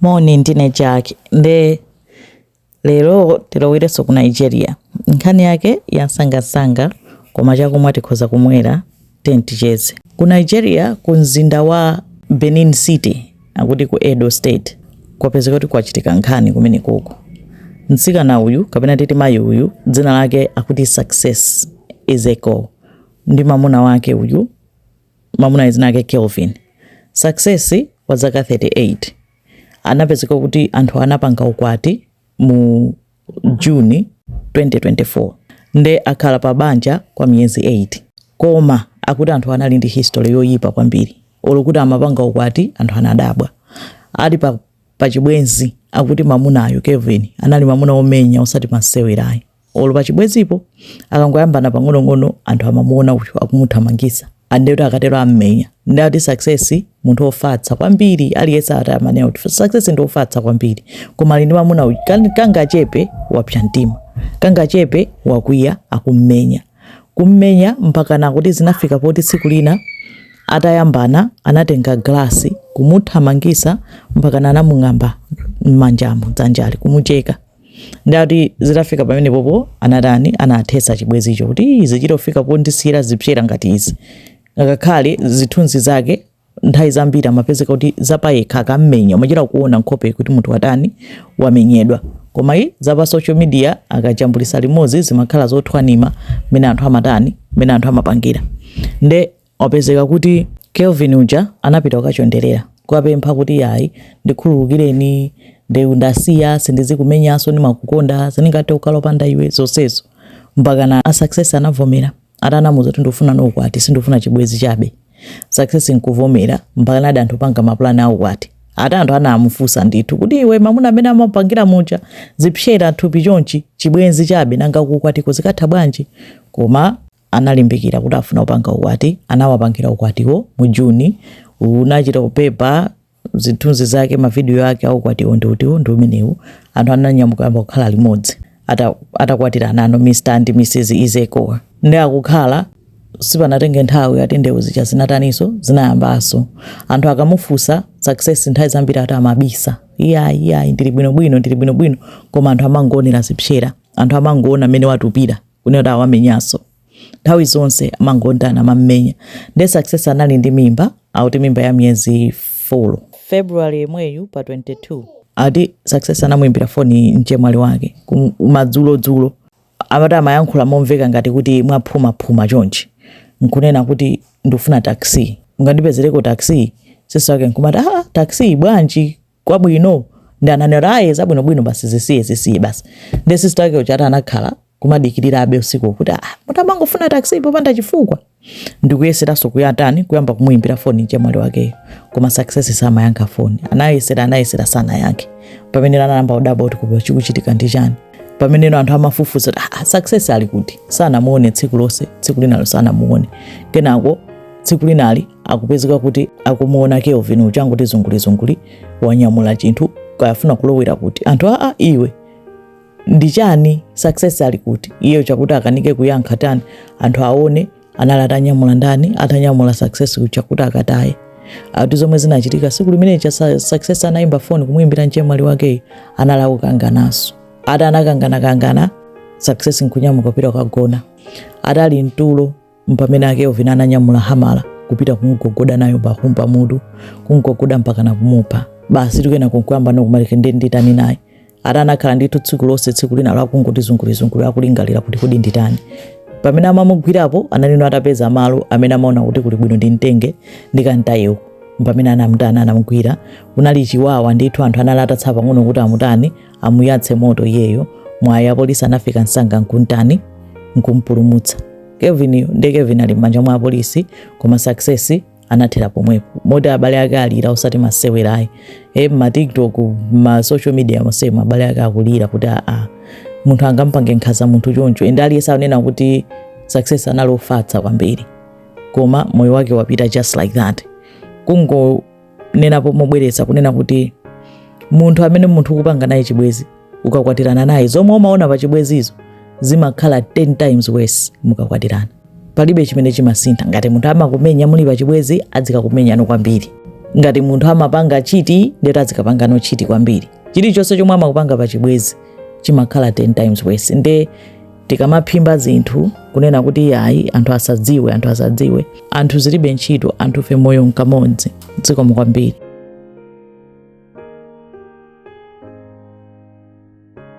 Moni, ndine Jack nde lero tilowerenso ku Nigeria. Nkhani yake yansangansanga koma chakumwa tikhoza kumwera tiyeni ticheze. Ku Nigeria ku mzinda wa Benin City akuti ku Edo State kwapezeka kuti kwachitika nkhani kumenekoko. Mtsikana uyu kapena titi mayi uyu dzina lake akuti Success Izekor ndi mamuna wake uyu Mamunayo dzina lake Kelvin Success wa zaka 38 anapezeka kuti anthu anapanga ukwati mu June 2024 nde akhala pa banja kwa miyezi 8 koma akuti anthu anali ndi history yoyipa kwambiri olo kuti amapanga ukwati anthu anadabwa ali pa, pa chibwenzi akuti mamunayo Kelvin anali mamuna omenya osati masewerayi olo pachibwenzipo akangoyambana pang'onong'ono anthu amamuona uyo akumuthamangisa andekuti akatero ammenya nde ati success munthu ofatsa kwambiri aliyense ati amanena kuti success ndi ofatsa kwambiri koma ali ndi mamuna uyu kan- kangachepe wapsa mtima kangachepe wakwiya akummenya kummenya mpakana kuti zinafika poti tsiku lina atayambana anatenga glasi kumuthamangisa mpaka anamung'amba m'manjamo dzanjali kumucheka nde ati zitafika pamenepopo anatani anathetsa chibwenzicho kuti zichitofika pondisiyira zipsera ngati izi ngakhale zithunzi zake nthawi zambiri amapezeka kuti zapayekha akammenya umachita kuona nkhope kuti munthu watani wamenyedwa koma zapa social media akajambulisa limodzi zimakhala zothwanima mmene anthu amatani mmene anthu amapangira nde wapezeka kuti Kelvin uja anapita kukachonderera kuwapempha kuti yayi ndikhululukireni ndi ndasiya sindizikumenyanso ndimakukonda sindingathe kukhala opanda iwe zonsezo mpakana success anavomera ati anamuza kuti ndikufunano ukwati sindikufuna chibwenzi chabe success nkuvomera mpakanadi anthu kupanga mapulani aukwati ati anthu anamufunsa ndithu kuti iwe mamuna amene amapangira muja zipsera thupi chonchi chibwenzi chabe nanga kukwatiko zikatha bwanji koma analimbikira kuti afuna kupanga ukwati anawapangira ukwatiwo mu June unachita kubeba zithunzi zake mavidiyo ake aukwatiwo ndi utiwo ndi umenewu anthu ananyamuka kuyamba kukhala limodzi ata- atakwatiranano mr and mrs izekor nde akukhala sipanatenge nthawi ati ndewu zija zinataninso zinayambanso anthu akamufunsa success nthawi zambiri ati amabisa iyayi ndili bwinobwino ndili bwinobwino koma anthu amangoonera zipsera anthu amangoona mmene watupira kunena kuti awamenyanso nthawi zonse amangodana amammenya nde success anali ndi mimba akuti mimba ya miyezi 4 february yemweyu pa 22 ati success anamuimbira foni mchemwali wake madzulodzulo ati amayankhula momveka ngati kuti mwaphumaphuma chonchi nkunena kuti ndikufuna taxi ungandipezereko taxi sisi wake nkumati ah taxi bwanji kwabwino ndiye ananena ai zabwino bwino basi zisiye zisiye basi ndi sister yake uja anakhala kumadikirira abe usiku kuti ah mumangofuna taxi popanda chifukwa ndikuyeseranso kuyatani kuyamba kumuyimbira foni mchemwali wakeyo koma success samayankha foni anayesera anayesera sanayankhe pamene anayamba kudabwa kuti koma chikuchitika ndi chani pameneno anthu amafufuza kuti ah, success ali kuti sanamuone tsiku lonse tsiku linalo sanamuone kenako tsiku linali akupezeka kuti akumuona kelvin uja angoti zungulizunguli wanyamula chinthu kaya afuna kulowera kuti anthu aa iwe ndi chani success ali kuti iyeyo chokuti akanike kuyankha tayini anthu aone anali atanyamula ndani atanyamula success chokuti akataye ati zomwe zinachitika tsiku limene lija Sa- success anayimba foni kumuyimbira mchemwali wakeyi anali akukangananso ati anakanganakangana success nkunyamuka kupita kukagona ati ali mtulo Mpamene a Kelvin ananyamula hamala kupita kumugogoda nayo bam pa mutu kumgogoda mpaka kumupha basi kenako nkuyambano kumati kodi nditani naye ati anakhala ndithu tsiku lonse tsiku linalo akungoti zungulizunguli akulingalira kuti kodi nditani pamene amamugwirapo anali ano atapeza malo amene amaona kuti kuli bwino ndimtenge ndikamtaye uko mpamene anamutana anamugwira kunali chiwawa ndithu anthu anali atatsala pang'ono kuti amutani amuyatse moto iyeyo mwayi apolisi anafika msanga nkuntani nkumpulumutsa kelvin nde kelvin ali m'manja mwa apolisi koma success anathera pomwepo moti abale ake alira osati masewerayi e mmatiktok mmasocial media monsemu abale ake akulira kuti aa munthu angampange nkhaza munthu choncho ende aliyense anena kuti success anali ofatsa kwambiri koma moyo wake wapita just like that kungo nenapo mobwereza kunena kuti munthu amene munthu ukupanga naye chibwezi ukakwatirana naye zomwe umaona pa chibwezizo zimakhala 10 times worse mukakwatirana palibe chimene chimasintha ngati munthu amakumenya muli pa chibwezi adzikakumenyano kwambiri ngati munthu amapanga cheat nde kuti adzikapangano cheat kwambiri chilichonse chomwe amakupanga pa chibwezi chimakhala 10 times worse nde tikamaphimba zinthu kunena kuti iyayi anthu asadziwe anthu asadziwe anthu zilibe ntchito anthufe moyo nkamodzi zikomo kwambiri